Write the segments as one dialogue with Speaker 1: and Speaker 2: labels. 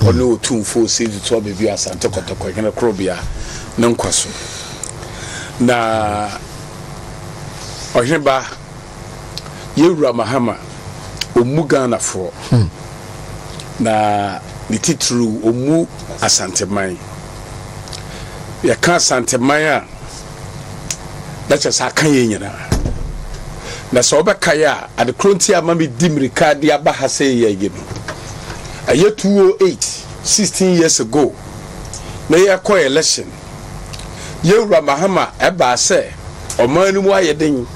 Speaker 1: Ɔne Otumfo Osei Tutu Ababio Asante Kɔtɔkɔ Hene Korobea
Speaker 2: ne nkwa so, na Ɔheneba Yɛn Wura Mahama ɔmmu Ghanafoɔ, na ne titiriw ɔmmu Asanteman. Yɛka Asanteman a, na kyerɛ sɛ aka yɛn nyinaa. Na sɛ wobɛkae a, ade koro nti a ma medi mmirika de aba ha sɛ yɛ yi no, ɛyɛ 208, 16 years ago, na yɛkɔ election. Yɛn Wura Mahama ɛbaa sɛ ɔman no mu ayɛ den,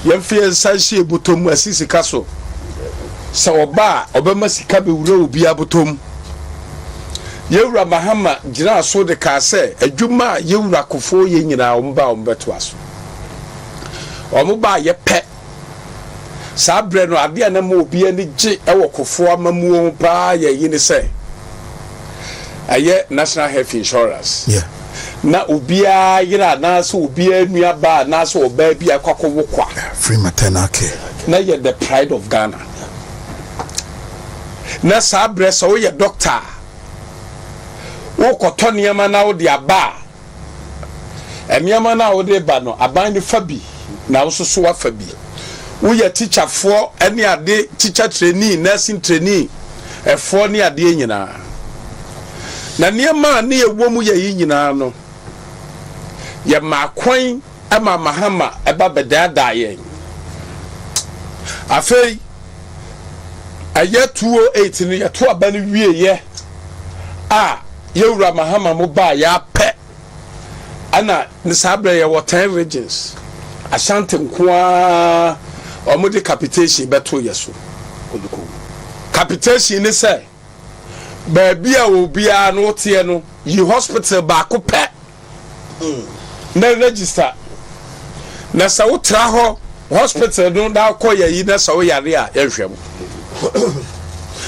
Speaker 2: yɛmfa yɛn nsa nhyɛ yɛn bɔtɔ mu asi sika so. Sɛ ɔba a, ɔbɛma sika bɛwura obiara bɔtɔ mu. Yɛn Wura Mahama gyinaa so de kaa sɛ, adwuma a Yɛn Wura Kufuor yɛ nyinaa, wɔn ba a wɔbɛtoa so. Wɔn ba a yɛpɛ. Saa berɛ no, adeɛ a na ɛma obi ani gye wɔ Kufuor amammuo ho paa yɛ yi ne sɛ, ɛyɛ National Health Insurance. Yeah. Na obiara yere anaasɛ obiara nuabaa anaasɛ ɔbaa bi a ɛkɔ akɔwo kwa. Yeah, free maternal
Speaker 3: care. Na yɛ the pride
Speaker 2: of Ghana. na saa berɛ sɛ woyɛ dɔkta a, wokɔtɔ nneɛma na wode aba a, nneɛma no a wode reba no, aban no fa bi na wo nso so woafa bi. Woyɛ tikyafoɔ ne ade, tikya treni, nursing treni, ɛfoɔ ne adeɛ nyinaa. Na nneɛma a na ɛwɔ mu yɛ yi nyinaa no, yɛmaa kwan Ɛma Mahama ba bɛdaadaa yɛn. Afei, ɛyɛ 2008 no, yɛto aba no wieeɛ a Yɛwura Mahama mo baeɛ ara pɛ, ɛna ne saa berɛ yɛwɔ ten regions, Ashanti nko ara, wɔde capitation bɛtoo yɛn so. Capitation ne sɛ. baabi a obiara no woteɛ no yi hospital baako pɛ na register na sɛ wotra hɔ hospital no na wokɔ yɛ yi na sɛ woyare a yɛnhwɛ wo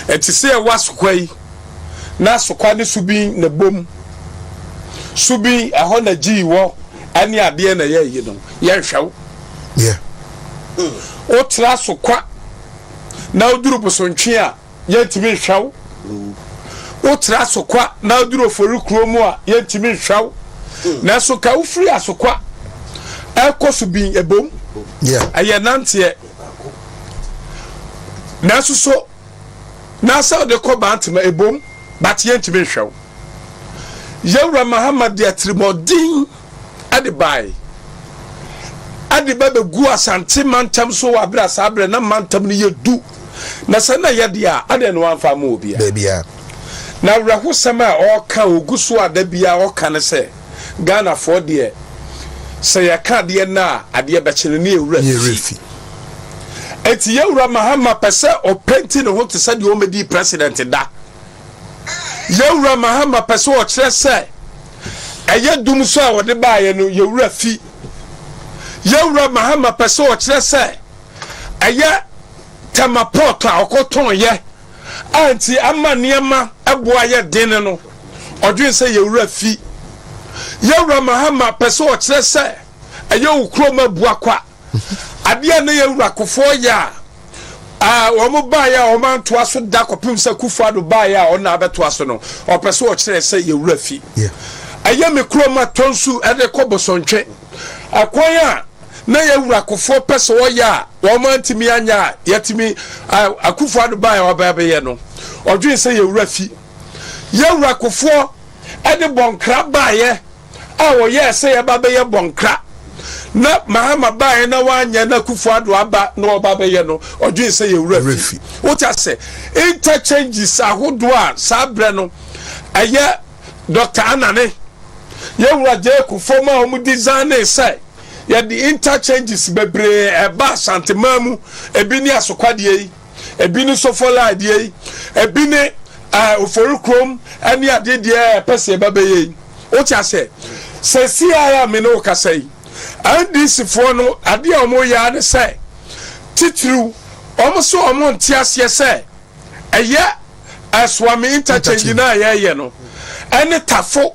Speaker 2: ɛte sɛ ɛwɔ asokwa yi na asokwa ne subin na bom subin ɛhɔ na gyii wɔ ɛne adeɛ na yɛ yi no yɛnhwɛ wo wotra asokwa na woduru bosontwe a yɛntumi nhwɛ wo. Wotra Asokwa na aduru Ofori kurow mu a, yɛntumi nhwɛ wo. Nanso nka wofiri Asokwa ɛrekɔ Subin ɛbom, ɛyɛ nanteɛ. Nanso so na sɛ wode kɔ Bantama ɛbom, but yɛntumi nhwɛ wo. Yɛn Wura Mahama de atirimuɔden. de bae. Ɛde ba beguu Asante mantam so wɔ bere a saa bere na mantam no yɛ du, na sɛ na ɛyɛ de a, adɛn na wamfa amma obiara? Na awerɛhosɛm a ɔreka a ogu so a da biara ɔka ne sɛ, Ghanafoɔ deɛ, sɛ yɛka adeɛ nnɛ a, adeɛ bɛkye no ne yɛn werɛ fi. Enti yɛn wura Mahama pɛ sɛ ɔpenti ne ho te sɛ deɛ ɔmmɛdii President da. Yɛn wura Mahama pɛ sɛ ɔkyerɛ sɛ. ɛyɛ dum so a wɔde baeɛ no, yɛn wura fi. Yɛn wura Mahama pɛ sɛ ɔkyerɛ sɛ ɛyɛ tɛma pɔɔto a ɔkɔtɔn yɛ a nti ama nneɛma ɛbo ayɛ den no, ɔdwen sɛ yɛn wura fi. Yɛn wura Mahama pɛ sɛ ɔkyerɛ sɛ ɛyɛ wo kurom abua kwa. Adeɛ a na yɛn wura Kufuor yɛ a, eh, wɔn baeɛ a wɔn antoa so da kɔpem sɛ Kufuor Addo baeɛ a ɔna abɛtoa so no, ɔpɛ sɛ ɔkyerɛ sɛ yɛn wura fi. Ɛyɛ me kurom a tɔ nsu de kɔ Bosontwe. Ɛkwan a na yɛn wura Kufuor pɛ sɛ ɔyɛ a wɔn antumi anyɛ a yɛatumi eh, a Kufuor Addo baeɛ a ɔba abɛyɛ no, ɔdwen sɛ yɛn wura fi. Yɛn wura Kufuor de bɔ nkra baeɛ. a wɔyɛɛ sɛ yɛba bɛyɛ bɔnkra na Mahama baeɛ na wanyɛ na Akufo Addo aba na ɔba bɛyɛ no, ɔdwen sɛ yɛ wura fi. Wote ase? Interchanges ahodoɔ a saa berɛ no ɛyɛ Dɔkta Anane, yɛ wura Jay Kufuor ma wɔn designee sɛ yɛde interchanges bebree ɛba Asanteman mu, ebi ne Asokwadeɛ yi. Ebi ne sofala adeɛ yi, ebi ne ɛɛ ofori kurom ɛne adeɛ deɛ ɛpɛ sɛ ɛba bɛyɛ yi. Wote aseɛ? Sɛ siaa a me ne wokasa yi, NDC foɔ no adeɛ a wɔn yɛ ara ne sɛ, titiriw wɔn sɛ wɔn nte aseɛ sɛ ɛyɛ. Ɛsoame interchange no a yɛyɛ no ɛne Tafo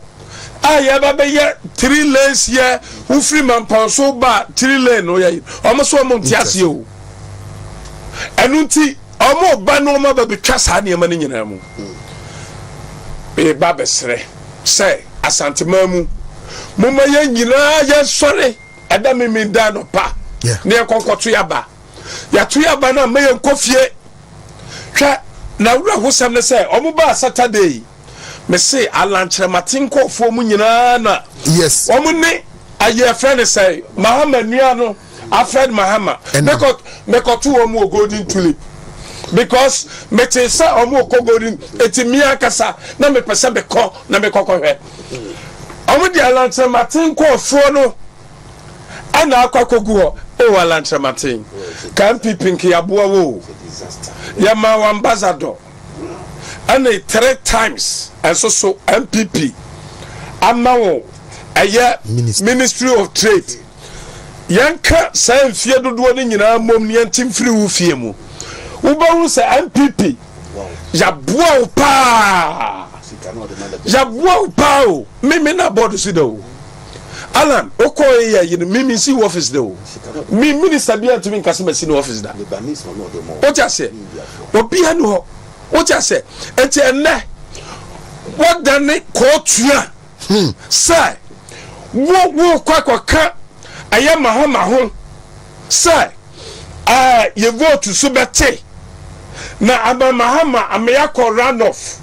Speaker 2: a yɛba bɛyɛ three lanes yɛ wofiri Mampɔn so ba three lane no yɛ wɔn so wɔn nte aseɛ o ɛno nti wɔn ba no wɔn aba bɛtwa saa nneɛma no nyinaa mu bɛba bɛsrɛ sɛ Asanteman mu mo ma yɛn nyinaa yɛn sɔre ɛda mimi da nɔpa ne yɛn kɔnkɔto yaba yɛato yaba no a ma yɛn kɔ fie Hwɛ, n'awerɛhosɛm ne sɛ ɔmo baa Saturday yi, me se alankyerɛmaten kɔɔfoɔ mu nyinaa na Yes. ɔmo ne ayi ɛfrɛ ne sɛn Mahama nua no Alfred Mahama Ɛnam. mekɔ mekɔto ɔmo wɔ Golden Tulip because metee sɛ ɔmo rekɔ Golden eti me ankasa na mepɛ sɛ mekɔ na mekɔkɔhwɛ ɔmo de alankyerɛmaten kɔɔfoɔ no. ɛna akɔ akɔgu hɔ o alankyerɛmaten ka npp nkeaboa wo o yɛma wo ambassador ɛne three times ɛnso so npp ama wo ɛyɛ ministry of trade yɛnka saa mfie dodoɔ no nyinaa mmom ne yɛnte mfiri wo fie mu wobɛhu sɛ npp yɛaboa wo paa yɛaboa wo paa o meme na bɔɔdo si da o Alan okɔ e yɛ yen me mensi wo office da o me minister bia ntumi nka se masi no office da wote aseɛ obia ni hɔ wote aseɛ enti ɛnɛ wɔdane kɔɔtua hmm, sɛ wo wo kɔ akɔka ɛyɛ maho maho sɛ ɛɛ yɛ vote so bɛte na ama Mahama ama yɛakɔ runoff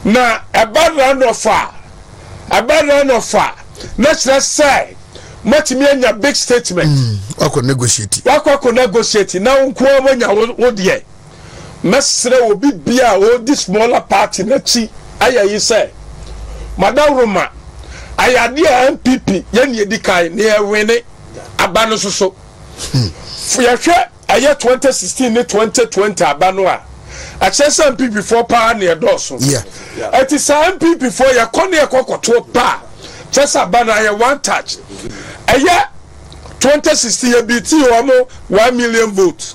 Speaker 2: na ɛba runoff a ɛba runoff a na kyerɛ sɛ moatumi anya big statement mm, wakɔ negotiate
Speaker 3: wakɔ akɔ negotiate na
Speaker 2: wo nko ara wanya wo deɛ mɛsrɛ obi bia a ɔdi smaller party n'akyi ayɛ yi sɛ madaworoma ayɛ adeɛ a npp yɛne ɛdi kan ne ɛwene aba no nso so yɛhwɛ ɛyɛ 2016 ne 2020 aba no a ɛkyerɛ sɛ npp foɔ paa ne ɛdɔɔso ɛti saa npp foɔ yɛkɔ ne yɛkɔ kɔtoɔ paa kyɛ sɛ aba no ayɛ one touch ɛyɛ 2016 yɛbi ti wɔn one million vote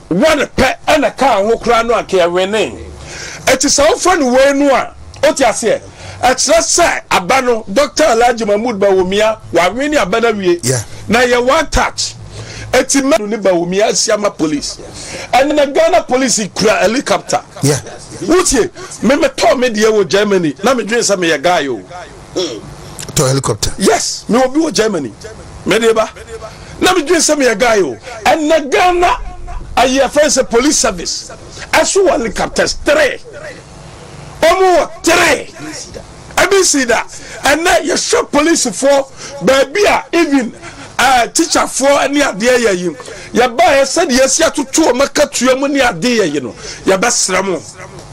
Speaker 2: One pɛ na ɛkaa ho koraa no anka yɛwenee. Enti sɛ wofrɛ no wei no a, wote aseɛ? Ɛkyerɛ sɛ aba no, Doctor Alhaji Mahmood Bawumia, wawene aba no awie. Na ɛyɛ one touch. Enti mɛ. Ne Bawumia asi ama police. Ɛnnɛ Ghana police kura helicopter. Wotie? Me metɔɔ me deɛ wɔ Germany na medwene sɛ meyɛ guy o. tɔ
Speaker 3: helicopter. Yes mewɔ bi wɔ
Speaker 2: Germany mede ba na me dwen sɛ meyɛ guy o ɛnɛ Ghana ayi ɛfɛn sɛ police service ɛso wɔ helicopters three ɔmo wɔ three ebi si da ɛnɛ yɛhwɛ police foɔ baabi a even uh, teacher foɔ ne adeɛ yɛ yi yɛbaeɛ sɛdeɛ yɛsi atoto ɔmo akatua mu ne adeɛ yɛ yi no yɛbɛsrɛ mo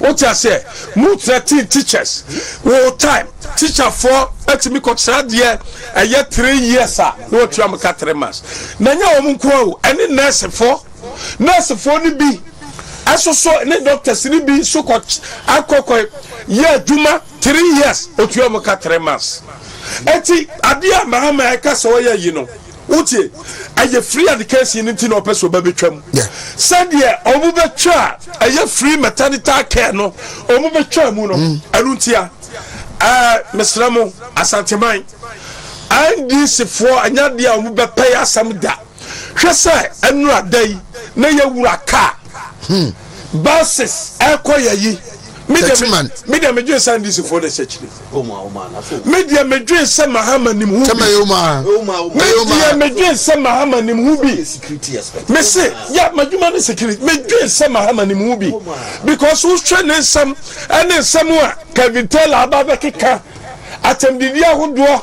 Speaker 2: Wote aseɛ? Mo thirteen teachers wo time teacher foɔ atumi kɔ sradeɛ ɛyɛ three years a na watua mo ka three months na nyɛ wɔn nkoa o ɛne nurse foɔ nurse foɔ no bi ɛso so ne doctors no bi nso kɔ akɔ kɔ yɛ adwuma three years otua wɔn ka three months eti adeɛ a mahama ɛka sɛ ɔyɛ yi no Wotie? Ɛyɛ free education no nti na ɔpɛ sɛ ɔba bɛtwa mu. Sɛdeɛ ɔmo bɛtwa a ɛyɛ free maternity care no ɔmo bɛtwa mu no. Mm. Ɛno ntia ɛɛ mesrɛ mo Asanteman NDC foɔ ɛnyɛ adeɛ a ɔmo bɛpɛe asɛm da. Hwɛ sɛ ɛnura da yi na yɛwura kaa. Hmm. Buses ɛkɔ yɛ yi. Tɛtiman. Me deɛ medwen sɛ NDC foɔ na ɛhyɛ kyiri. Me deɛ me dwen sɛ Mahama nim ho bi. Me deɛ me dwen sɛ Mahama nim ho bi. Me se ya madwuma ne security. Me dwen sɛ Mahama nim ho bi because wohwɛ ne nsɛm ɛne nsɛm a Kevin Taylor aba bɛkeka atɛmdidi ahodoɔ.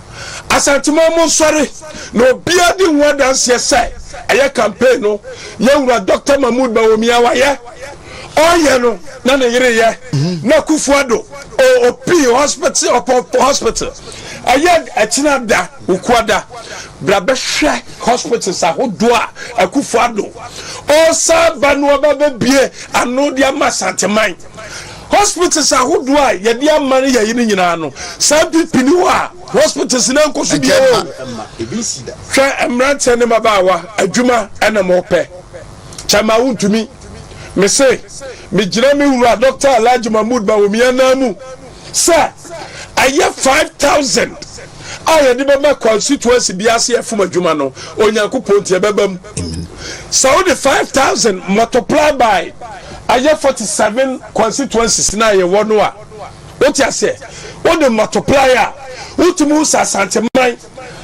Speaker 2: Asanteman monsɔre na obiara di ho adanseɛ sɛ ɛyɛ campaign no yɛn wura Doctor Mahmood Bawumia a wayɛ, ɔreyɛ no na ne yere reyɛ na Kufuor Addo ɔpii hospital ɔpɔ hospital ɛyɛ ɛkyena da Ukua da bra bɛhwɛ hospitals ahodoɔ a Akufuor Addo ɔresan aba no aba abɛbue ano de ama Asanteman. Hospitals ahodoɔ a yɛde ama no yɛyi no nyinaa no, saa mpipi ni hɔ a hospitals no nkɔ so bio o. Hwɛ mmeranteɛ ne mmabaawa, adwuma na mopɛ. Kyɛ ma wontumi. Me se, megyina me wura Doctor Alhaji Mahmood Bawumia nan mu sɛ ɛyɛ five thousand a yɛde bɛma constituency bi ase ɛfom adwuma no Onyankopɔn nti ɛbɛba mu. Amen. Sɛ wode 5000 multiply by ayɛ 47 constituencies no a yɛwɔ no a, wote aseɛ, wode multiply a, wotumi hu sɛ Asanteman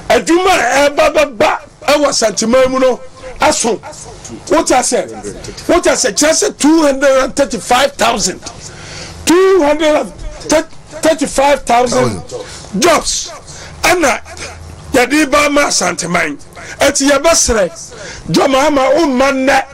Speaker 2: adwuma a ɛba bɛba Ɛwɔ Asanteman mu no aso wote asɛ wote asɛ kyerɛ sɛ two hundred and thirty five thousand two hundred and thirty five thousand jobs ɛna yɛde ba ama Asanteman ɛti yɛbɛsrɛ dwama ama wo mma nnɛ.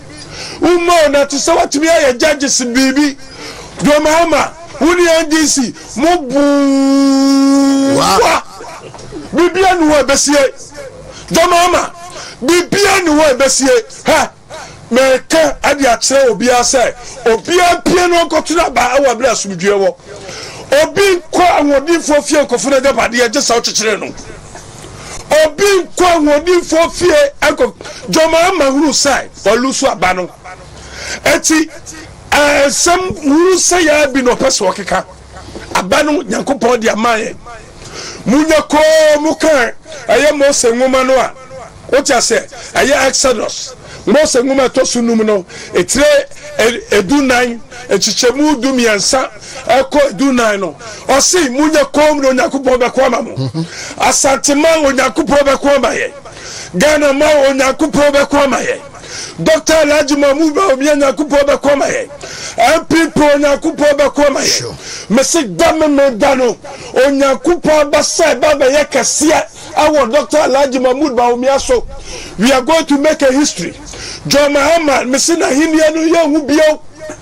Speaker 2: Woma o na te sɛ watumi ayɛ judges biribi John Mahama wo ne NDC mo boa biribiara ni hɔ ɛbɛsie John Mahama biribiara ni hɔ ɛbɛsie hɛ mɛka ɛde akyerɛ obiara sɛ obiara mpie no nkɔtena aba ɛwɔ abere asomdwie wɔ obi nkɔ ahoɔdenfoɔ fie nkɔfo no agyapadeɛ gye sɛ wokyekyere no obi nkɔ ahoɔdenfoɔ fie nkɔ dwom ama hunu sɛ ɔlu so aba no ɛti ɛnsɛm hunu sɛ yɛa bi na ɔpɛ sɛ ɔkeka aba no nyankopɔn de ama yɛ munya kɔɔ mu ka ɛyɛ mose nwoma no a wote asɛ ɛyɛ exodus mose nwoma ɛtɔ so num no ɛtire ɛdu nan ɛkyikyɛmu du mmiɛnsa ɛkɔ du nan no ɔse monyɛ komm na Onyankopɔn bɛko ama mo mhm. Asante ma Onyankopɔn bɛko ama yɛ Ghana ma Onyankopɔn bɛko ama yɛ Dr. Alhaji Mahmoud Bawumia Nyankopɔn bɛko ama yɛ MPP Onyankopɔn bɛko ama yɛ mese da me me da no Onyankopɔn abasa ɛba bɛyɛ kɛseɛ ɛwɔ Dr. Alhaji Mahmoud Bawumia so we are going to make a history John Mahama mese n'ahenniɛ no yɛnhu bio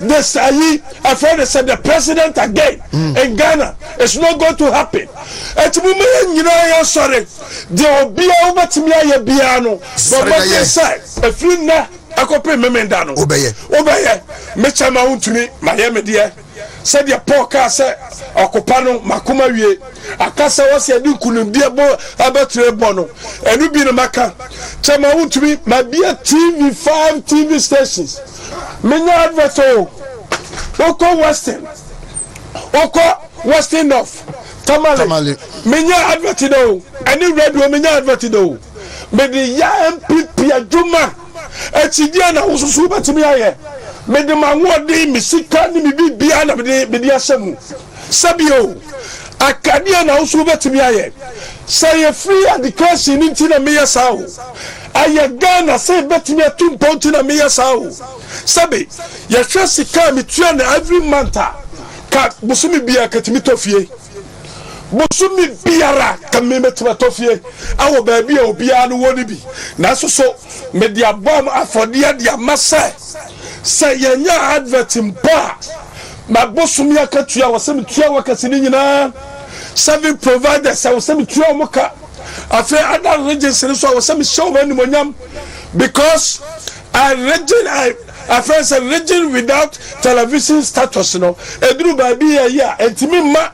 Speaker 2: Nyesaa yi ɛfrɛ no sɛ the president again in Ghana is not going to happen ɛti mo ma yɛn nyinaa yɛn sɔre deɛ obiara wo bɛtumi ayɛ biara no bɔ mmɔden sɛ ɛfiri nnɛ ɛkɔpem memenda no wo bɛyɛ me kyɛ ma wo ntumi ma yɛ me deɛ sɛdeɛ Paul kaa sɛ ɔkopa no makoma wie aka sɛ wɔ sɛ ɛde nkunimdeɛ bɔ ɛbɛtire bɔ no ɛno bi no maka kyɛ ma wo ntumi ma bia TV 5 TV stations Menya advert o Wokɔ western Wokɔ western north Tamale Menya advert dɛ o Ɛne radio menya advert dɛ o Mede yɛ NPP adwuma Ɛkyi deɛn na wosusu wobɛtumi ayɛ Mede m'ahoɔden, me sika ne me biribiara na mede ahyɛ mu. Sɛ bio, aka nea na wo nso wobɛtumi ayɛ. Sɛ yɛ free education no nti na meyɛ saa o, ɛyɛ Ghana sɛ yɛbɛtumi atu mpɔn nti na meyɛ saa o, sɛbe yɛhwɛ sika a metua no every month a, ka bosome biara katumi tɔ fie. Bosome biara ka mebɛtumi atɔ fie wɔ baabi a obiara no wɔ no bi. Nanso so mede abɔ afɔdeɛ de ama sɛ, sɛ yɛnya advert mpo a, Mabosome akatua a ɔsɛ metua wɔ kɛse no nyinaa, serving providers a ɔsɛ metua wɔn ka, afei other regions no nso a ɔsɛ mehyɛ wɔn animonyam because I region I afɛn sɛ region without television status no eduru baabi yɛ yɛ a ntumi mma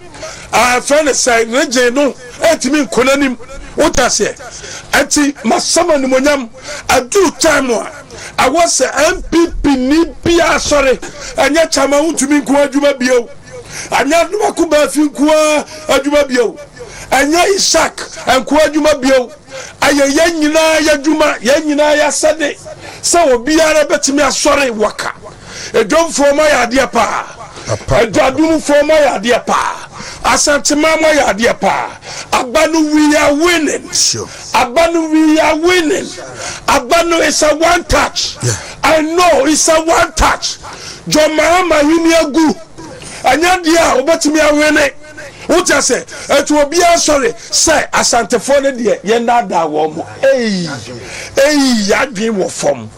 Speaker 2: afɛn ne sɛ region no ntumi nkɔ n'anim wote aseɛ ɛti masɛm animonyam aduru time a ɛwɔ sɛ NPP ni biara sɔre, ɛnyɛ Kyama Wontumi nko ara adwuma bio, ɛnyɛ Anomaku Baafi nko ara adwuma bio, ɛnyɛ Ishak nko ara adwuma bio, ɛyɛ yɛn nyinaa y'adwuma, yɛn nyinaa y'asɛde sɛ obiara bɛtumi asɔre waka. Edwomfoɔ mo ayɛ adeɛ paa. Adwadumfoɔ mo ayɛ adeɛ paa. Asanteman mo ayɛ adeɛ paa. Aba no we are winning. Aba no we are winning. Aba no is a one touch. I know is a one touch. John Mahama ahini agu. Ɛnyɛ adeɛ a wobɛtumi awene. Wote ase? Ɛnti obiara nsɔre sɛ Asantefoɔ no deɛ yɛnnaadaa wɔn. Ei! Ei! Yɛadwen wɔ fam.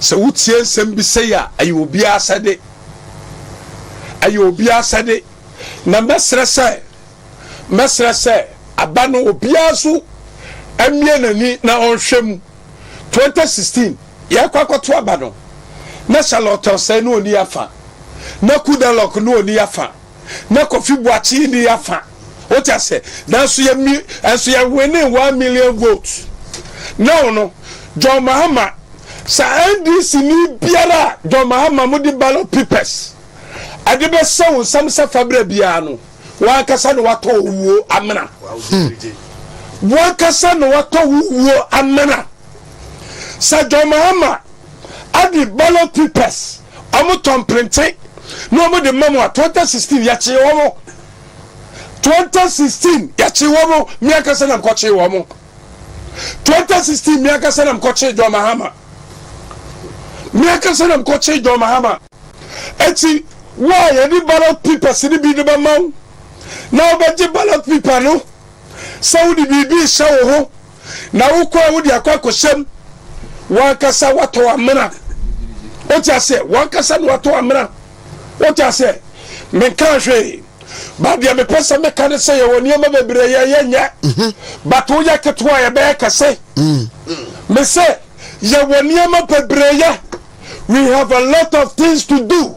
Speaker 2: Sɛ wotie nsɛm bi sɛi a, ɛyɛ obiara asɛde. Ɛyɛ obiara asɛde. Na mɛsrɛ sɛ, mɛsrɛ sɛ aba no obiara nso mmue n'ani na ɔnhwɛ mu. 2016, yɛrekɔ akɔto aba no, na Charlotte Osei na ɔni yɛn afa, na Kudalok na ɔni yɛn afa. na Kofi Boakye ni afa o ti ase nanso yɛ mi ɛnso yɛ winning one million vote na ɔno John Mahama sa NDC ni biara a John Mahama mo de ballot papers ɛde bɛ sɛ wo nsam sɛ fabra biara no wankasa na watɔ wo wuo amena wankasa na watɔ wo wuo amena sa John Mahama Ade ballot papers ɔmo tɔn printe na ɔmo de ma mo a twenty sixteen yɛkyee ɔmo twenty sixteen yɛkyee ɔmo mi ankasa nam kɔkyee ɔmo twenty sixteen mi ankasa nam kɔkyee John Mahama mi ankasa nam kɔkyee John Mahama eti wo a yɛde ballot papers ne bi de bɛ ma wo na wobɛgye ballot paper no sɛ wode biribi hyɛ wo ho. na wokɔ a wode akɔ akɔhyɛm wankasa watɔ amena wote aseɛ wankasa na watɔ amena wote aseɛ menka hwee ba deɛ mepɛ sɛ meka ne sɛ yɛwɔ nneɛma bebree yɛ yɛnyɛ mhm. but woyɛ ketewa yɛbɛyɛ kɛse mm. me sɛ yɛwɔ nneɛma bebree yɛ we have a lot of things to do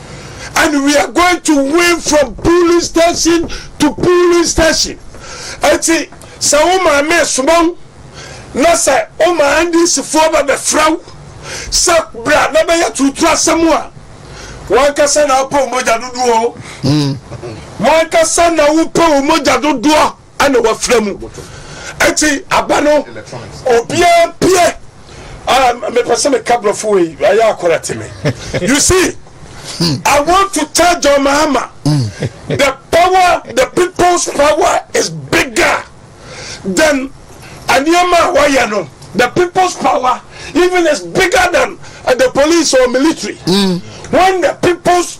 Speaker 2: and we are going to win from polling station to polling station eti sɛ wo maame esoma wo na sɛ wo maa ndc foɔ bɛ bɛfrɛ wo sɛ bra na bɛyɛ tuutu asɛm a wankasa na wopɛ wo mogya dodoɔ o wankasa na wopɛ wo mogya dodoɔ ɛna wafira mu ɛti aba no obiara mpeɛ ah, mepɛ sɛ meka borɔfo wei ɛyɛ akɔra te me you see I want to tell John Mahama the power the people's power is bigger than nneɛma a wɔyɛ no the people's power even is bigger than uh, the police or military mm. when the people's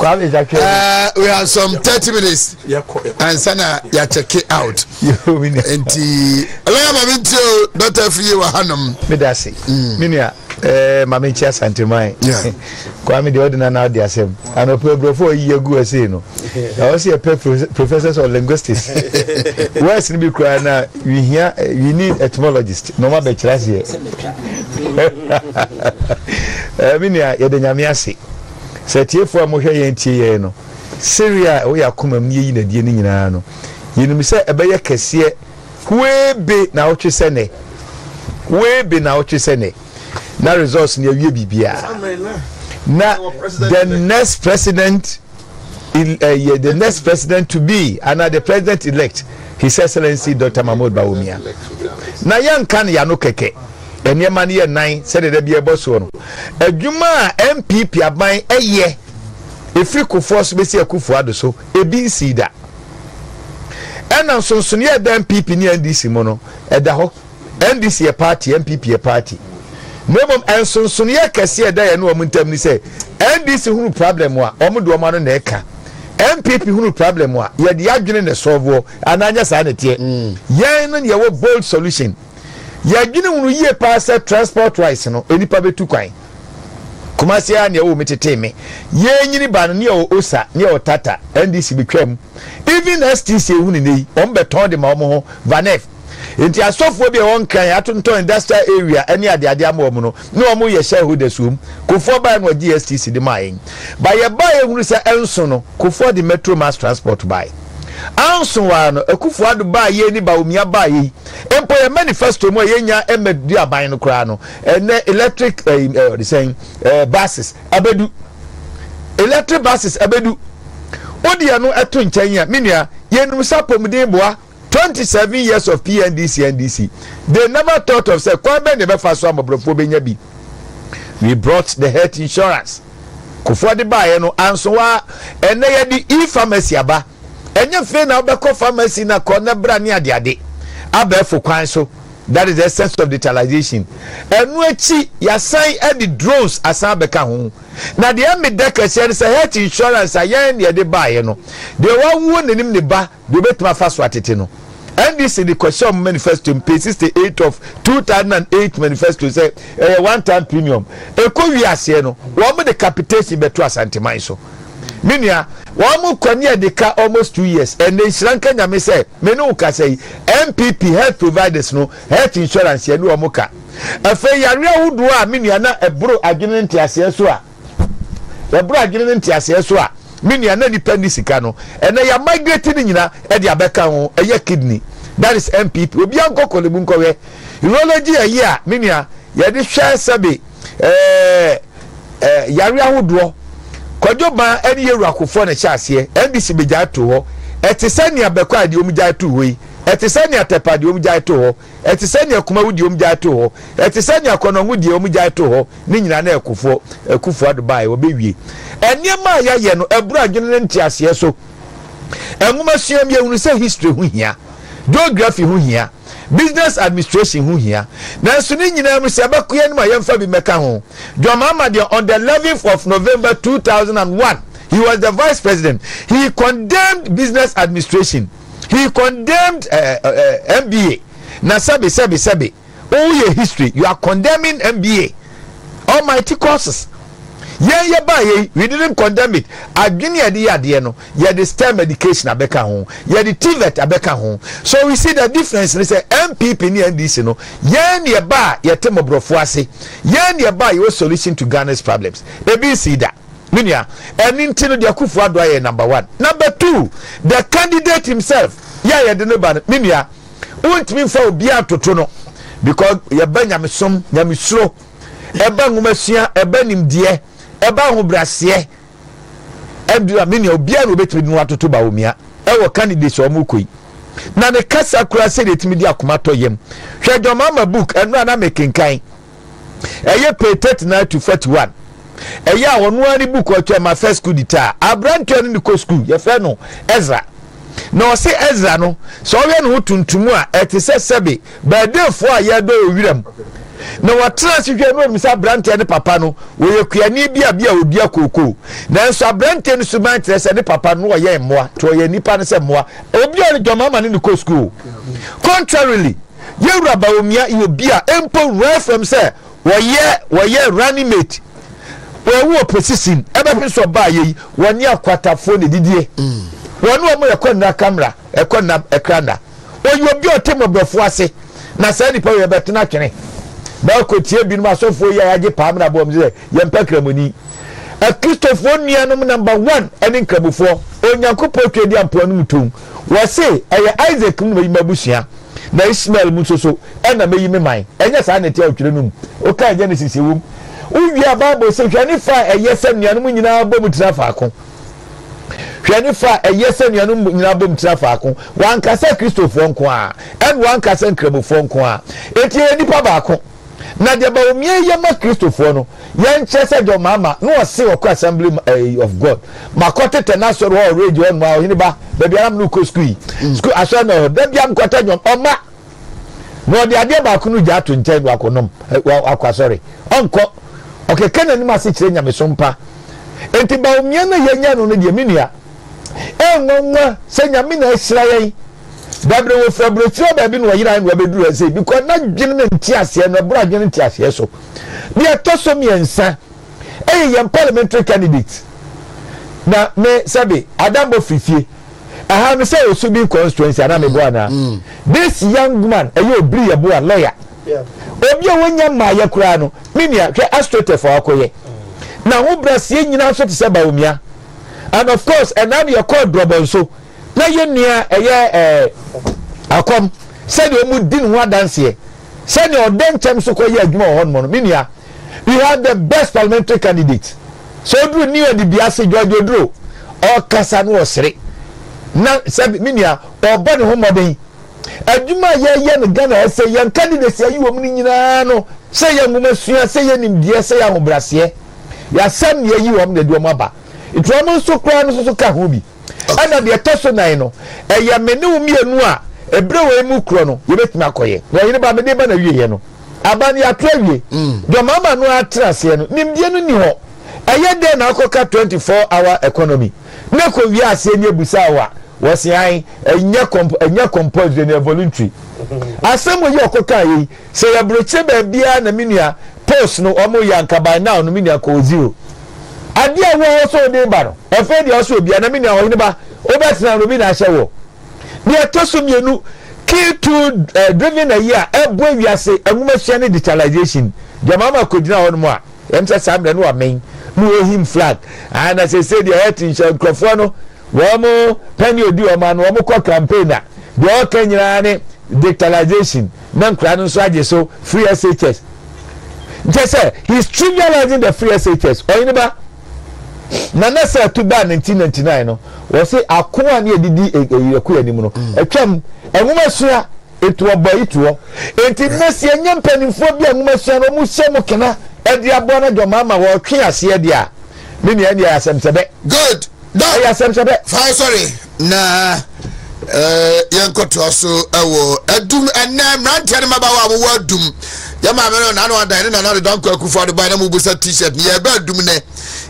Speaker 3: Uh, we have some 30 minutes ansa na yɛakyɛke out nti ɛlɛyɛ ma
Speaker 4: mente o
Speaker 3: dɔta afiri wɔ hanom meda se mm. me nua eh,
Speaker 4: ma menkyi asanteman kwa
Speaker 3: me deɛ wode
Speaker 4: nana wode asɛm anɔpɛ aburɔfoɔ ɔyi agu asei no ɛwɔ sɛ yɛpɛ professors of linguistics wes no bi koraa na wehia eh, we need etymologist na ɔma bɛkyerɛ aseɛ eh, me nua yɛde nyame ase Sɛ atiefo a mohwɛ yɛn tie yɛn no, sereɛ a ɛwɔ yɛn akomam ne yɛyi no adie no nyinaa no, yɛnim sɛ ɛbɛyɛ kɛseɛ huebe naawɔtwe sɛ nɛ. Huebe naawɔtwe sɛ nɛ. Na results no yɛawie biribiara. Na the next president ɛyɛ eh, the next president to be ana the president elect his excellency dr mahmoud bawumia na yɛnka no yɛano kɛkɛ nneɛma no yɛ nan sɛdeɛ da biara ɛbɔ soɔ no adwuma a npp aban ɛyɛ ɛfiri kofoɔ so bɛsi akufo ado so ebi nsii da ɛna nsonsonoeɛ a ɛda npp ne ndc mu no ɛda hɔ ndc yɛ party npp yɛ party na mmom nsonsonoeɛ kɛseɛ ɛda yɛne wɔn ntam ni sɛ ndc hunu problem a wɔn de wɔn ano na ɛka npp hunu problem a yɛde adwene na ɛsɔɔvoɔ anaa nyɛ saa na ɛteɛ mm. yɛn no yɛwɔ bold solution Yɛdwene ho no yie paa sɛ transport wise no nnipa bɛtu kwan. Kumasi ara nea wɔwɔ mu tetee me. Yɛnyini ba no ne ɛwɔ Osa ne ɛwɔ Tata NDC betwa mu. Even STC ehu ne nɛyi wɔn bɛtɔn de ma wɔn ho Vanef. Nti asɔfoɔ bi a ɛwɔ Nkran atontɔn industrial area ɛne adeade ama wɔn no ne wɔn yɛ shareholders wɔm. Kufuor baeɛ no ɔgyee STC de maa yɛn. Ba yɛbaeɛ hunu sɛ ɛnso no Kufuor de Metro mass transport baeɛ. Anso ara no Akufo Addo baa yɛn ne Bawumia baeɛ yi. mpo yɛn manifesto mu a yɛnya ɛmɛ di aban no koraa no ɛnɛ electric ɛɛ eh, ɛɛ eh, ɔdesɛn ɛɛ eh, buses abedu electric buses abedu wodi ɛno ɛto nkyɛn yɛ menua yɛnum sa pomuden boa twenty seven years of pndc ndc they never thought of sɛ kwan bɛn na ɛbɛfa so amɔborɔfoɔ bɛnya bi we brought the health insurance kofoɔ de baeɛ no anso wa ɛnɛ yɛde e-pharmacy aba Ɛnyɛ afei na wobɛkɔ pharmacy na kɔ na bra ne adeade. Abɛɛfo kwan so, that is the essence of digitalization. Ɛno akyi, yɛasan de drones asan abɛka ho. Na deɛ meda kɛseɛ no sɛ health insurance a yɛn na yɛde baeɛ no, deɛ wawuo nanim ne ba deɛ obɛtumi afa so atete no. NDC de kɔhyɛ wɔn manifesto mu, page 68 of 2008 manifesto sɛ ɛyɛ one time premium. Ɛkɔ wie aseɛ no, wɔn de capitation bɛto Asanteman so. Me nua, wɔn mo kɔ ne adi ka almost two years, ɛnna nhyira nka Nyame sɛ me ne wo kasa yi, NPP health providers no, health insurance yɛne wɔn mo ka. Afei yareɛ ahodoɔ a me nua na ɛboro adwene ne nteaseɛ so a, ɛboro adwene ne nteaseɛ so a, me nua na nipa nni sika no, ɛnɛ yɛ migrate ne nyina ɛde abɛka ho, ɛyɛ kidney, that is NPP, obia nkɔ kɔlebu nkɔhwɛ, urology ɛyɛ a, me nua, yɛde hwɛ sɛbe, ɛɛ ɛɛ yare ahodoɔ kwadwo ban ɛne yɛ wurakofoɔ na ɛhyɛ aseɛ ndc bɛgyae to hɔ ɛte sɛ nea bɛkɔ a deɛ wɔn gyae to hɔ yi ɛte sɛ nea tɛpa deɛ wɔn gyae to hɔ ɛte sɛ nea kumawu deɛ wɔn gyae to hɔ ɛte sɛ nea kɔnɔngo deɛ wɔn gyae to hɔ ne nyinaa na ɛkofoɔ ɛkufoɔ ado baa ɛwɔ bɛwie nneɛma a yɛayɛ no ɛburu adwene ne nteaseɛ so nwoma sua mu yɛhunu sɛ history ho hia geography ho hia Business Administration ho hia. Nanso ne nyinaa mu, sɛ ɛbɛko yɛn anim a, yɛmfa bi mmɛka ho. John Mahama deɛ, on the eleventh of November two thousand and one, he was the Vice President, he condemned Business Administration, he condemned uh, eh, uh, eh, eh, MBA. Na sɛbe, sɛbe, sɛbe, oh, yɛ history, you are condemning MBA, almighty courses. Yɛn yɛ baa yɛ, we didn't condemn it. Adwene yɛde yɛ adeɛ no, yɛde stem education abɛka ho yɛde tvet abɛka ho so we see the difference ne sɛ npp ne ndc no yɛn ne ɛba a yɛte mmɔborɔfoɔ ase yɛn ne ɛba a yɛwɔ solution to ghana's problems ebi nsii da me nua ɛne nti no deɛ akufo ado ayɛ number one number two the candidate himself yɛ a yɛde ne ba no me nua wontumi mfa obiara ntoto no because yɛba nyamesom nyamesuro ɛba nwomasua ɛba nimdeɛ ɛba ahobraseɛ Ɛnde a me nua obiara na obetumi de no atoto Bawumia ɛwɔ candidates a wɔn kɔ yi na ne kasa kura sɛdeɛ etumi di akoma tɔ yam hwɛ John Mahama book ɛno a na mekenkan ɛyɛ page thirty nine to forty one ɛyɛ a ɔno ara ne book ɔtwɛn ma first school dita aberanteɛ no ne kɔ school yɛfrɛ no Ezra na ɔse Ezra no sɛ ɔyɛ ne ho tuntum a ɛte sɛ sɛbe Bɛɛdefoɔ a yɛdɔ wɔ wiram na wɔtena ase hwɛ no omisa aberanteɛ no papa no wɔyɛ kuani bi a bi a ɔdua kookoo nanso aberanteɛ no suban kyerɛ sɛ ne papa no ɔyɛ mmoa nti ɔyɛ nnipa no sɛ mmoa obi a ne dɔma ma ne ne kɔ sukuu contrarily yɛwura baomia yɛ obi a mpo nwura fam sɛ wɔyɛ wɔyɛ running mate wɔwu opposition ɛbɛhwe sɛ ɔbaa yɛ yi wɔne akwatafoɔ na ɛdidie wɔne wɔn yɛkɔ nna kamera ɛkɔ nna ɛkra nna Ɔyɛ obi a ɔte mmɔborɔfoɔ ase, na saa nipa wei ɛbɛto no atwene. Na ɔkɔtie binom asɔfoɔ yi a yɛagye paa mmra bɔ wɔn sɛ yɛmpɛ Kramoni. Akristofoɔ nnuanom number one ɛne Nkramofoɔ. Onyankopɔn twa di a mpoano mu tumm. Wɔse ɛyɛ Isaac mu na meyi m'abusua, na Ismael mu nso so ɛna meyi me man. Ɛnyɛ saa na ɛte a ɔtwerɛ no mu. Wokae Genesis ɛwom. Wowie a Bible se hwɛ ne fã a ɛyɛ sɛ nnuanom nyinaa bɔ mu tena faako. Hwɛ ne fã a ɛyɛ sɛ anuanom nyinaa bom tena faako. Wanka sɛ Kristofoɔ nko ara, ɛna wanka sɛ Nkramofoɔ nko ara. Enti yɛyɛ nnipa baako. Na deɛ Bawumia yɛ ma Kristofoɔ no, yɛnkyerɛ sɛ deɛ ɔmaama na ɔse ɔkɔ Assembly of God, makɔ tetɛ n'asɔre hɔ wɔ Rage hɔnom a, Ɔhene Ba, baabi ara me ne wo kɔ sukuu yi, sukuu asɔre no wɔ hɔ, da biara mekɔtɛ nnwom, ɔma. na ɔde adeɛ baako no gya ato nkyɛn na wakɔnom wakɔ asɔre ɔnkɔ ɔkeka n'anim ase kyerɛ nyamesom pa nti baomia no yɛnya no no deɛ me nua ɛnwanwa sɛ nyame na ahyira yɛn dabrɛ wɔ firi aburokyerɛ baabi na ɔyerae na wabɛduru ɛsɛ because na dwene no nteaseɛ no ɛboro adwene nteaseɛ so deɛ ɛtɔ so mmiɛnsa ɛyɛ yɛn parliamentary candidate na me sɛbe adambɔ firifie aha no sɛ osubi constituency ana mebo ana this young man ɛyɛ obiri yɛ boa lawyer obi a wonya mmaa yɛ koraa no me nua hwɛ astrotef a ɔkɔyɛ na ho braseɛ nyinaa nso te sɛ baomia and of course ɛnaa no yɛkɔɔ drɔbɔ nso na yɛ nua ɛyɛ ɛɛ akɔm sɛdeɛ ɔmu di ne ho adanseɛ Sɛnea ɔde ntɛm so kɔ yɛ adwuma wɔ hɔnom no, me nua, we have the best parliamentary candidate. Sɛ oduru new adibea ase, George Oduro, ɔkasa no ɔsere. Na sɛ me nua, ɔbɔ ne ho mmɔden. Adwuma a yɛyɛ no Ghana ha sɛ yɛn candidacy ayi wɔn no nyinaa no, sɛ yɛ nwoma sua, sɛ yɛ nimdeɛ, sɛ yɛ ahobraseɛ. Yɛasɛm na yɛayi wɔn na yɛde wɔn aba. Nti wɔn nso koraa no nso ka ho bi. Ɛna deɛ ɛtɔ so nan no, ɛyɛ me ne wo mmienu a ɛberɛ wei mu korɔ no yɛbɛtumi akɔyɛ. Na ɔhene ba, mede ba na wieɛ no aba no yɛato awie. Deɛ ɔma ama no ara tena aseɛ no, nimdeɛ no nni hɔ. Ɛyɛ dɛn na akɔka 24 hour economy na ɛkɔwie aseɛ ne abusaa wo a, wɔse ae, ɛnyɛ compulsory, ɛyɛ voluntary. Asɛm wei a ɔkɔkaeɛ yi, Sɛ yɛ brochure baabiaa na me nua post no ɔmo yɛ anka by now no me nua kɔɔ zero adeɛ a woa ɔsɛ ɔde ba no ɛfei deɛ ɔsɛ obia na me nua ɔhene ba wobɛtena no obi na ahyɛ woɔ deɛ ɛtɔ so mmienu key to eh, driven ayi a ɛbɔ ewiase anwomasua ne digitalization deɛ maa ma kɔgyina hɔ nom a ɛm sɛ saa mmerɛ no ɔmen ne ɔhim flag ana ah, sɛsɛ deɛ ɛyɛ te nhyɛ nkurɔfoɔ no wɔn mo pɛne odi wɔn ano wɔn kɔ campaign a deɛ ɔka nyinaa ne digitalization na nkwadaa no nso agye so free SHS nkyɛ sɛ he is trivializing the free SHS ɔyene ba nana sɛ ɛto baa 1999 no wɔsi ako a ne edidi ɛyɛko e, e, anim no mm. atwam nwoma sua etu ɔbɔ yi toɔ eti mmesi enye mpanimfoɔ bi a nwoma sua no wɔn hyɛ mu kena ɛde aboa no dɔm ama wɔtwe aseɛ deɛ a ne nea ɛne ɛyɛ asɛmsɛbɛ. good dɔn
Speaker 3: ɛyɛ asɛmsɛbɛ.
Speaker 4: fa sɔre.
Speaker 3: na yɛnkɔtoa so wɔ adum ɛnɛ mmeranteɛ no mabawa a mowɔ adum yɛ maame no nano adan ne nana deda nkɔ akufo ade ban na mobusa t-shirt no yɛbɛ adum nɛ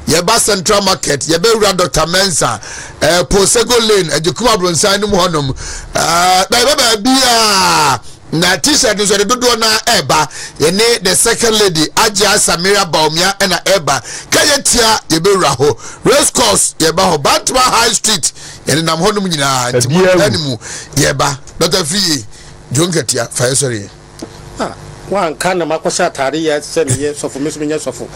Speaker 3: yɛba central market yɛbɛwura dr mensa eh, posego lane agyekuma bronsan nom hɔnom eh, bɛyɛbɛ baabi a Na t-shirt nso yɛde dodoɔ no ara ɛreba yɛne the second lady agyea samira baomia ɛna ɛreba ka yɛ tia yɛbɛwura hɔ race course yɛba hɔ bantama high street yɛne nam hɔnom nyinaa nti mo ɛne mu yɛba dɔta fiye dwo nkatia fa yɛ sɔre yɛ ah,
Speaker 5: wanka na makɔhyɛ atade yɛ sɛ meyɛ sɔfo me so menyɛ sɔfo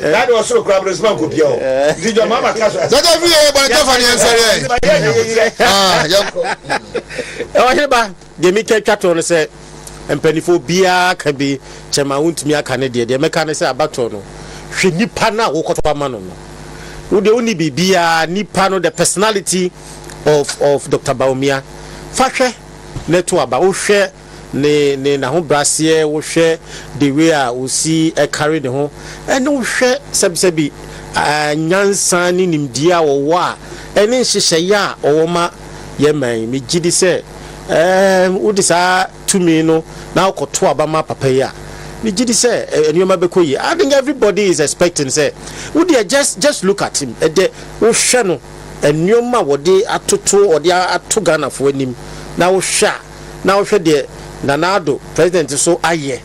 Speaker 4: Daa de ɔsoro kura aborɔsima
Speaker 3: nkopia o. Nti dwa mama ka so ase. Jaja fi yɛ bɔne tɛfa ne yɛnsɛre ɛ. Nti yɛ yɛ yɛ ah yɛnkɔ. Ɔhene ba
Speaker 5: deɛ me twa twa toɔ no sɛ mpanifoɔ obiara ka bi kyɛ ma wontumi aka ne deɛ deɛ mɛka ne sɛ abatoɔ no hwɛ nipa no a wokɔtɔ ama no no wo deɛ wonni biribiara nipa no the personality of of Dr. Bawumia fa hwɛ na ɛto aba wohwɛ ne ne n'ahobraseɛ wohwɛ the way a ɔsi ɛkare ne ho ɛne wohwɛ sɛbisɛbi nyansa ne nimdeɛ a ɔwɔ a ɛne nhyehyɛeɛ a ɔwɔ ma yɛ man yi megye di sɛ ɛɛm wode saa tumi no na wokɔto aba ma papa yi a megye di sɛ nneɛma bɛkɔ yie I think everybody is expecting sɛ wodeɛ just just look at him ɛdɛ wohwɛ no nneɛma a wɔde atoto wɔde ato Ghanafoɔ anim na wohwɛ a na wohwɛ deɛ Nana Addo president so ayɛ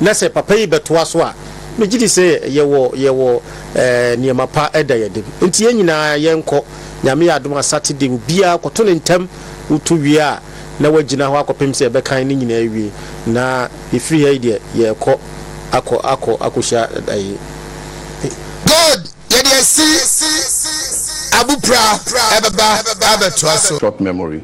Speaker 5: na sɛ papa yi bɛtoa so a, megye di sɛ yɛwɔ yɛwɔ ɛɛ nneɛma pa ɛda yɛ dem. Nti yɛn nyinaa yɛnkɔ, Nyame yɛ adom a Saturday obiara kɔto ne ntɛm, woto wie a na woagyina hɔ akɔpem sɛ yɛbɛkan ne nyinaa awie na yɛfiri ha yi deɛ yɛrekɔ akɔ akɔ akɔhyia ɛɛ.
Speaker 3: God yɛde asi abopra ɛbɛba abɛtoa so. Short memory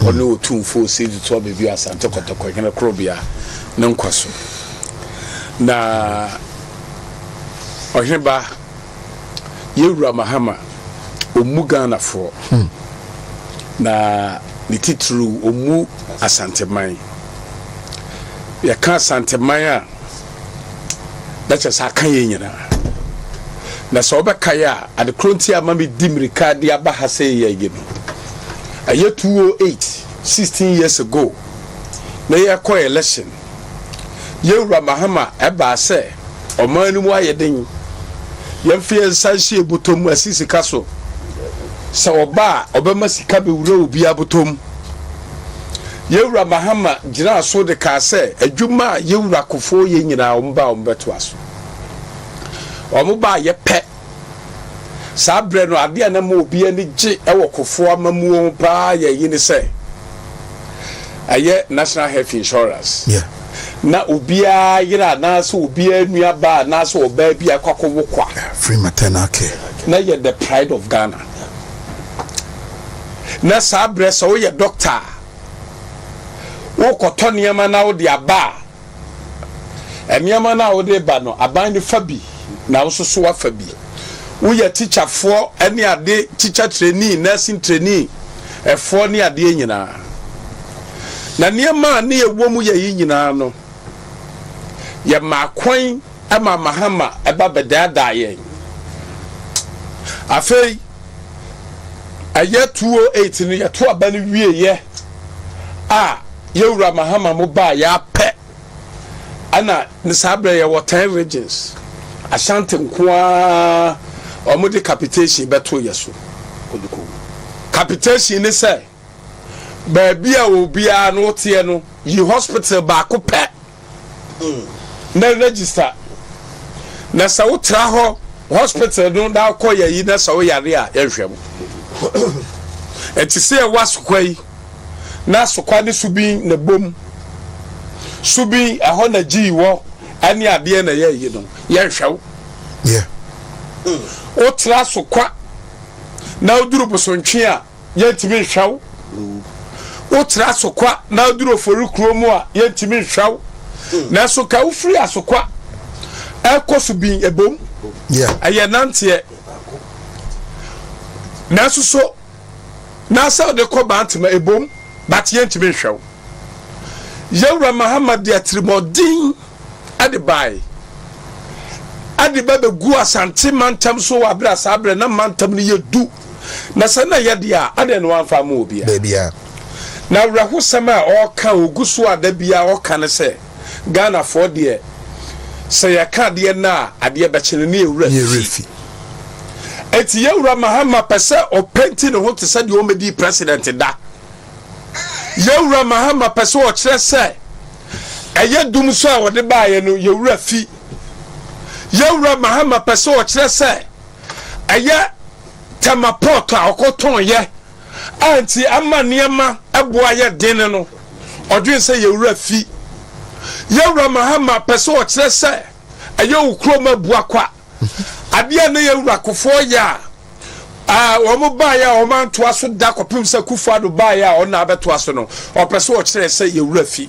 Speaker 1: ɔne Otumfoɔ Seidu Toa Bevio Asante Kɔtɔkɔ Hene Korobea
Speaker 2: no nkwa so, na Ɔheneba Yɛn Wura Mahama ɔmmu Ghanafoɔ, na ne titiriw ɔmmu Asanteman. Yɛka Asanteman a, na kyerɛ sɛ aka yɛn nyinaa. Na sɛ wobɛkae a, ade koro nti a ma medi mmirika de aba ha sɛ yɛ yi no, ɛyɛ 208, 16 years ago, na yɛkɔ election. Yɛwura Mahama ɛbaa sɛ ɔman no mu ayɛ den, yɛmfa yɛn nsa nhyɛ yɛn bɔtɔ mu asi sika so. Sɛ ɔba a, ɔbɛma sika bɛwura obiara bɔtɔ mu. Yɛn Wura Mahama gyinaa so de kaa sɛ, adwuma a Yɛn Wura Kufuor yɛ nyinaa, wɔn ba a wɔbɛtoa so. Wɔn ba a yɛpɛ. Saa berɛ no, adeɛ a na ɛma obi ani gye wɔ Kufuor amammuo ho pa ara yɛ eyi ne sɛ, ɛyɛ National Health Insurance. Na obiara yere anaasɛ obiara nuabaa anaasɛ ɔbaa bi a akɔ akɔwo kwa. Free maternal
Speaker 3: care. Na ɛyɛ the pride
Speaker 2: of Ghana. na saa berɛ sɛ woyɛ dɔkta a, wokɔtɔ nneɛma na wode aba a, nneɛma no a wode ba no, aban no fa bi na wo nso so wafa bi. Woyɛ tikyafoɔ ne ade, tikya treni, nursing treni, ɛfoɔ ne adeɛ nyinaa. Na nneɛma a ne ɛwɔ mu yɛ yi nyinaa no, yɛ maa kwan ma mahama ɛba bɛdaadaa yɛn. Afei, ɛyɛ two oh eight no yɛto aba no wieeɛ a yɛwura mahama mo baa yɛapɛ ɛna ne saa berɛ yɛwɔ ten regions ashanti nko ara wɔde capitation bɛto yɛ so capitation ne sɛ baabi a obiara no woteɛ no yi hospital baako pɛ na register na sɛ wotra hɔ hospital no na wokɔ yɛ yi na sɛ woyare a yɛnhwɛ mo ɛte sɛ ɛwɔ asokwa yi na asokwa ne subin na bom subin ɛhɔ na gyii wɔ ɛne adeɛ na yɛ yi no yɛnhwɛ wo wotra asokwa na woduru bosontwe a yɛntumi nhwɛ wo. Wotra Asokwa na woduru Ofori kurow mu a, yɛntumi nhwɛ wo. Nanso ka wofiri Asokwa rekɔ Subin ɛbom, ɛyɛ nanteɛ. Nanso so na sɛ wode kɔ Bantama ɛbom, but yɛntumi nhwɛ wo. Yɛn Wura Mahama de atirimuɔden. de bae. Ɛde ba beguu Asante mantam so wɔ abere a saa bere na mantam no yɛ du, na sɛ na ɛyɛ de a, adɛn na wamfa amma obiara? Baabiara. Na awerɛhosɛm a ɔreka a ogu so a da biara ɔka ne sɛ, Ghanafoɔ deɛ, sɛ yɛka adeɛ nnɛ a, adeɛ bɛkye no ne yɛn werɛ afi. Ne werɛ fi. Enti yɛn Wura Mahama pɛ sɛ ɔpenti ne ho te sɛ deɛ ɔmmɛdii President da. yɛn wura Mahama pɛ sɛ ɔkyerɛ sɛ ɛyɛ dum so a wɔde baeɛ no yɛn wura fi. Yɛn wura Mahama pɛ sɛ ɔkyerɛ sɛ ɛyɛ tɛma pɔt a ɔkɔtɔn yɛ a nti ama nneɛma ɛboa yɛ den no ɔdwen sɛ yɛn wura fi. Yɛn wura Mahama pɛ sɛ ɔkyerɛ sɛ ɛyɛ okurom abua kwa. Adeɛ a na yɛn wura Kufuor yɛ a, eh, wɔn baeɛ a wɔn antoa so da kɔpem sɛ Kufuor-Addo baeɛ a ɔna abɛtoa so no, ɔpɛ sɛ ɔkyerɛ sɛ yɛn wura fi.